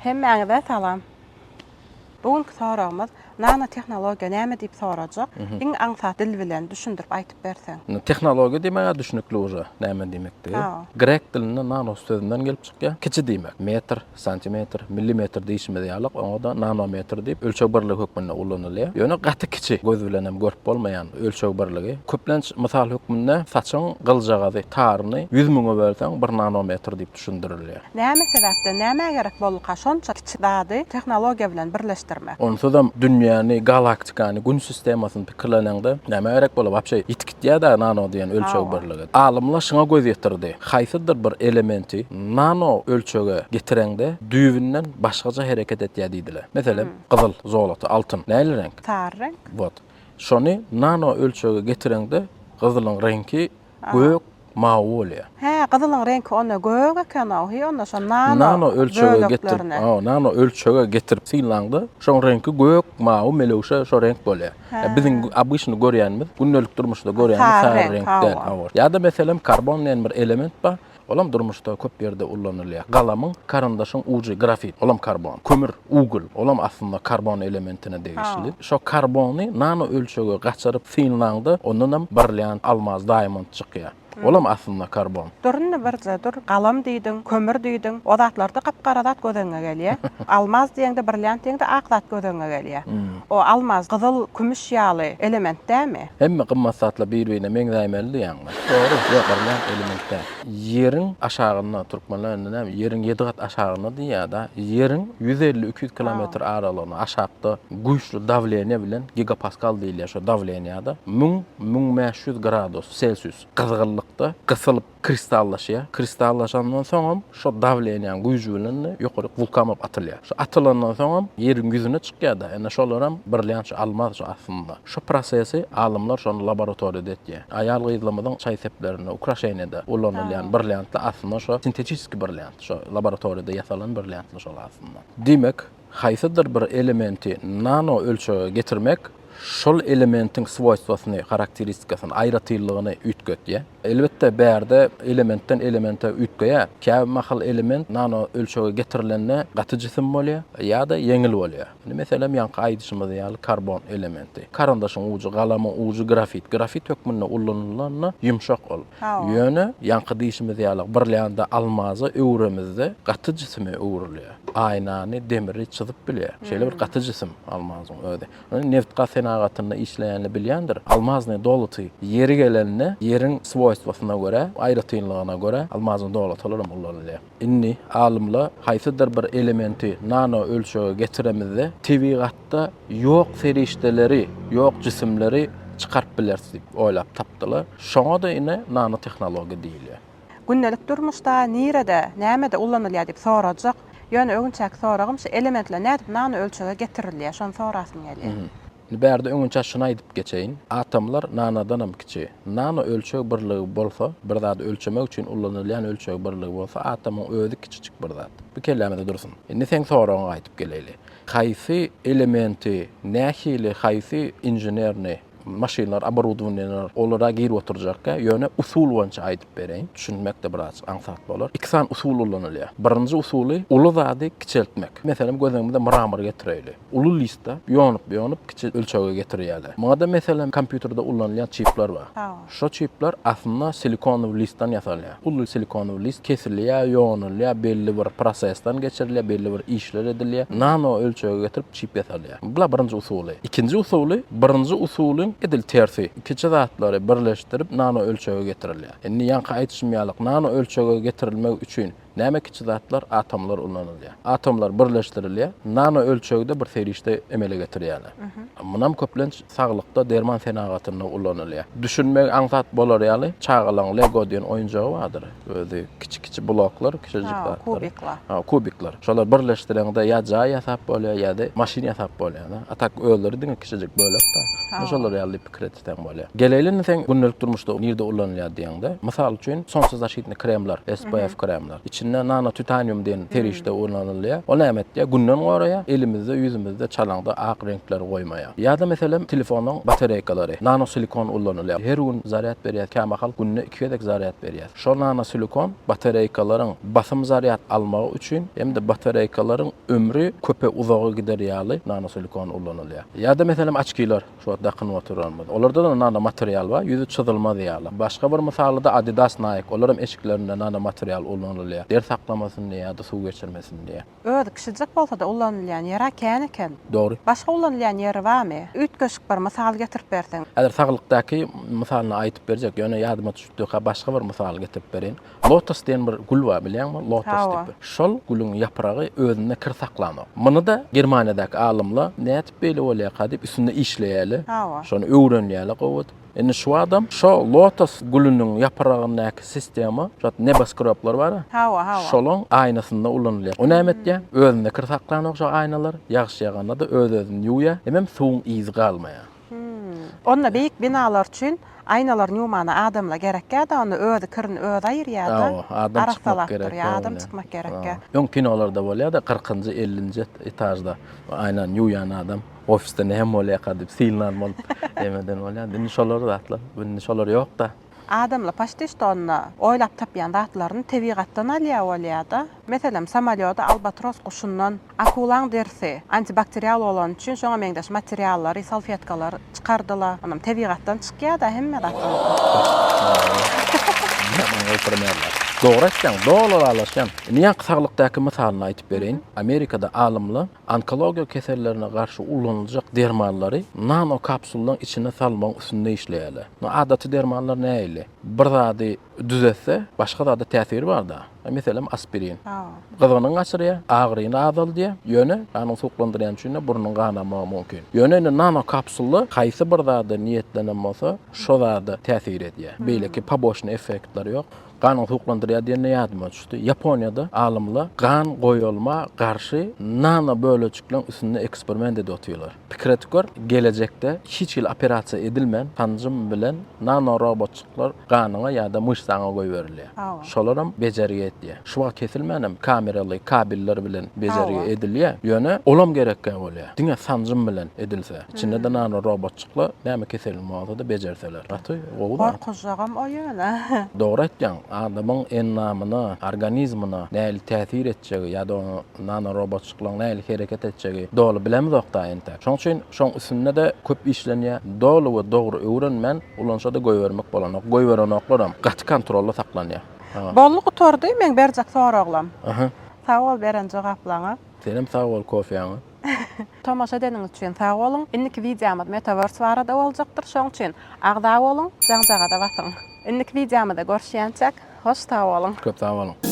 Hemmäňize salam. Bu günki soragymyz nanotehnologiýa näme diýip sorajak. Iň aňsat dil bilen düşündirip aýtyp berseň. Tehnologiýa diýmäge düşnükli uje näme diýmekdigi. Grek dilinde nanos sözünden gelip çykýar. Kiçi diýmek. Metr, Santimetr, millimetr diýşimiz ýalyk, oňa-da nanometr diýip, ölçeg birligi hökmünde ulanylýar. Ýöne gaty kiçi, göz bilen hem görüp bolmaýan ölçeg birligi. Köplenç mysal hökmünde saçyň gyljagazy, taryny ýüz müňe bölseň, bir nanometr diýip düşündirilýär. Näme sebäpden, nämä gerek bolduka şonça kiçi zady tehnologiýa bilen birleşdirmek? Onsuzam dünýäni, galaktikany, Gün sistemasyny pikirleneňde, nämä gerek bolar wapşe? Ýa-da nano diýen ölçeg birligi. Alymlar şuňa göz ýetirdi, haýsydyr bir elementi nano ölçege getireňde düýbünden başgaça hereket etýär diýdiler. Meselem, gyzyl, zolota, altyn nähili reňk? Sary reňk. Wot. Şony nano ölçege getireňde gyzylyň reňki gök, mawy bolýa. Hä gyzylyň reňki onda gök ekenow hi onda şo nano böleklerine. Nano ölçege getirip nano ölçege getirip synlaňda şoň reňki gök mawy melewşe şo reňk bolýa. Biziň obyçny görýänimiz gündelik durmuşda görýänimiz sary reňk däl hawa. Ýada meselem karbon diýen bir element bar olam durmuşda köp ýerde ullanylýa. Galamyň karyndaşyň ujy grafit olam karbon. Kömür ugl olam aslynda karbon elementine degişli. Şo karbony nano ölçege gaçyryp synlaňda ondanam brilýant almaz daýamond Çykýar. Olam aslynda karbon. Dur indi birje dur, galam diýdiň, kömür diýdiň, o zatlarda gap-gara zat göz öňüňe gelýä. Almaz diýeňde, brilliant diýeňde ak zat göz öňüňe gelýä. O almaz, gyzyl, kümüş ýaly element dämi? Hemme gymmat zatlar bir-birine meňzäýmeli diýýäňmi? Dogry. Ýok, brilliant element däl. Ýeriň aşagynda, türkmenler indi näme, ýeriň ýedi gat aşagynda diýýä-dä. Ýeriň ýüz elli, iki ýüz kilometr aralygynda aşakda güýçli dawleniýe bilen, gigapaskal diýilýä şo dawleniýada, müň, müň bäş ýüz gradus selsius gyzgynlykda gysylyp kristallaşýar. Kristallaşandan soňam şo dawleniýäň güýji bilen-de ýokaryk wulkan bolup atylýar. Şo atylandan soňam ýeriň ýüzüne çykýar-da, indi şolaram birlänçe almaz şo aslynda. Şo prosesi alymlar şony laboratoriýada etýär. Aýal-gyzlarymyzyň çaý seplerinde, ukraşeniýada ulanylýan birlänçde aslynda şo sintetişiski birlänç, şo laboratoriýada ýasalan birlänçdir şol aslynda. Diýmek, haýsydyr bir elementi nano ölçege getirmek şol elementiň swoýstwosyny, harakteristikasyny, aýratynlygyny üýtgetýär. Elbetde, bärde elementden elemente üýtgeýär. Käbir mahal element nano ölçege getirilende gaty jisim bolýar ýa-da ýeňil bolýar. Indi meselem, ýaňky aýdyşymyz ýaly karbon elementi. Karandaşyň ujy, galamyň ujy grafit. Grafit hökmünde ullanylanda ýumşak ol. Ýöne, ýaňky diýşimiz ýaly, birlände almaza öwüremizde gaty jisime öwrülýär. aýnany, demiri çyzyp bilýär. Şeýle bir gaty jisim almazyň özi. Ony nebit-gaz senagatynda işleýänler bilýändir. Almazyň doluty ýeri gelende, ýeriň swoýstwosyna görä, aýratynlygyna görä almazyň dolutylar hem ulanylýar. Indi alymlar haýsydyr bir elementi nano ölçege getiremizde, tebigatda ýok serişdeleri, ýok jisimleri çykaryp bileris diýip oýlap tapdylar. Şoňa-da ine nanotehnologiýa diýilýär. Gündelik durmuşda nirede, nämede ulanylýar diýip sorajak. Ýöne öňinçäki soragym şu elementler nädip nano ölçege getirilýär, şony sorasym gelýär. Indi bärde öňinçä şuny aýdyp geçeýin. Atomlar nanodanam kiçi. Nano ölçeg birligi bolsa, bir zady ölçemek üçin ulanylýan ölçeg birligi bolsa, atomyň özi kiçijik bir zat. Bu kellämizde dursun. Indi seň soragyňa gaýdyp geleýli. Haýsy elementi, nähili, haýsy inženerni Maşynlar, oborudowaniýalar olara girip oturjakka, ýöne usul boýunça aýdyp bereýin, düşünmek-de biraz aňsat bolar. Iki sany usul ulanylýar. Birinji usuly, uly zady kiçeltmek. Meselem, göz öňümize mramor getireýli. Uly listde ýonup-ýonup kiçi ölçege getirýärler. Muňa-da, meselem, kompýuterde ulanylýan çipler bar. Şo çipler aslynda silikonowy listden ýasalýar. Uly silikonowy list kesilýär, ýonulýar, belli bir prosesden geçirilýär, belli bir işler edilýär. Nano ölçege getirip çip ýasalýar. Bula birinji usuly. Ikinji usuly, birinji usulyň edil tersi. Kiçi zatlary birleşdirip nano ölçege getirilýär. Indi ýaňky aýdyşym ýalyk nano ölçege getirilmek üçin Näme kiçi zatlar? Atomlar ulanylýar. Atomlar birleşdirilýär, nano ölçegde bir serişde emele getirýärler. Munam köplenç saglykda, derman senagatynda ulanylýar. Düşünmegi aňsat bolar ýaly, çagalaryň Lego diýen oýunjagy bardyr. Özi kiçi-kiçi bloklar, kiçijik zatlar. Kubiklar. Hawa, kubiklar. Şolary birleşdireňde ýa jaý ýasap bolýar, ýa-da maşyn ýasap bolýar-da. A tak özleri diňe kiçijik bölek-de. Hawa. Şolar ýaly diýip. Kreditleň bolýar. Geleýli indi seň gündelik durmuşda nirde ulanylýar diýeňde, mysal üçin, solnçezaşitnyý kremler, SPF kremler, içinde nanotitanium diýen serişde ulanylýar. Ol näme etýär? Günden goraýar, elimizde, ýüzümizde, çalaňda ak reňkleri goýmaýar. Ýa-da meselem, telefonyň batareýkalary, nanosilikon ulanylýar. Her gün zarýad berýär, kämahal günde iki gezek zarýad berýär. Şol nanosilikon batareýkalaryň basym zarýad almagy üçin hem-de batareýkalaryň ömri köpe uzaga gider ýaly nanosilikon ulanylýar. Ýa-da meselem, oçkiler. Şu wagt dakynyp oturanymyz. Olarda da nanomaterial bar, ýüzi çyzylmaz ýaly. Başga bir mysalyda Adidas, Nike, olar hem eşiklerinde nanomaterial ullanylýar. Der saklamasyn diýe ýa-da suw geçirmesin diýe. Özi kiçijik bolsa-da ullanylýan ýeri-ä kän eken. Dogry. Başga ulanylýan ýeri barmy? Üýtgeşik bir mysal getirip berseň. Häzir saglykdaky mysalyny aýdyp berjek, ýöne ýadyma düşüpdika başga bir mysaly getirip bereýin. Lotos diýen bir gül bar bilýäňmi? Lotos diýip bir. Şol gülüň ýapragy özünde kir saklanok. Muny-da Germaniýadaky alymlar nädip beýle bolýarka diýip üstünde işleýärler. Şony öwrenýärler gowy. Indi şu adam şo lotos gülüniň ýapragyndaky sistema şu neboskroblar bar-a, şolaň aýnasynda ulanylýar. O näme etýär? Özünde kir saklanok şo aýnalar. Ýagyş ýaganda-da öz-özüni ýuwýar. Hemem suwuň yzy galmaýar. Onda beýik binalar üçin aýnalar newmana adamla gerekgäda onda özi kirini özi aýyrýada. Adam çykmak gerek. Adam çykmak gerek. Öň kinolarda bolýada kyrkynjy ellinji etažda aýnany ýuwýan adam ofisde näme bolýaka diýip silnan bolup ýemeden bolýada indi şolar zatlar indi şolar ýokda. Adam lapaşdyş donna oýlap tapýan zatlaryny tebigatdan alýar bolýar-da. Meselem, samolýoda albatros guşundan, akulaň derisi antibakterial bolany üçin şoňa meňzeş materiallary, salfetkalary çykardylar. Onam tebigatdan çykýar-da hemme zat ýaly. Dogry aýtýaň, doly ylalaşýan. Indi ýaňky saglykdaky mysalyny aýtyp bereýin. Amerikada alymlar Onkologiýa kesellerine garşy ulanyljak dermanlary nanokapsullaryň içine salmagyň üstünde işleýärler. Indi adaty dermanlar nähili? Bir zady düzetse, başga zada täsiri bar-da. Meselem, aspirin. Gyzgynyňy gaçyrýar, agyryny azaldýar, ýöne ganyňy suwuklandyrýan üçin-de burnuň ganamagy mümkin. Ýöne indi nanokapsulla haýsy bir zada niýetlenen bolsa, şo zada täsir edýär. Beýleki poboçnyý effektleri ýok. Ganyňy suwuklandyrýar diýende ýadyma düşdi. Ýaponiýada alymlar gan goýulma garşy nano bölejikleň üstünde eksperiment edip otyrlar. Pikir edip gör, gelejekde hiç hili operasiýa edilmän sanjym bilen nano robotjyklar ganyňa ýa-da myşsaňa goýberilýär. Şolaram bejergi etýär. Şu wagt kesilmänem kameraly kabellar bilen bejergi edilýär. Ýöne olam gerekkä bolýar. Diňe sanjym bilen edilse. Içinde-de nano robotjyklar näme keseliň bolsa-da bejerseler. Gaty gowy zat. Gorkuzjagam o ýöne. Dogry aýtýaň, adamyň endamyna, organizmine nähili täsir etjegi ýa-da onuň nano robotjyklaryň nähili hereket etjegi doly bilemizok-da entek. Şonuň üçin şoň üstünde-de köp işlenýär. Doly we dogry öwrenmän ulanşa-da goýbermek bolanok. Goýberenoklarem gaty kontrolda saklanýar. Boldy gutardy meň berjek soraglam. Sag bol beren jogaplaňa. Senem sag bol kofýaňa. Tomaşa edeniňiz üçin sag boluň! Indiki wideomyz Metaverse barada boljakdyr, şoň üçin agza boluň, jaňjagaza basyň! Indiki wideomyzda görüşýänçäk, hoş sag boluň! Köp sag boluň!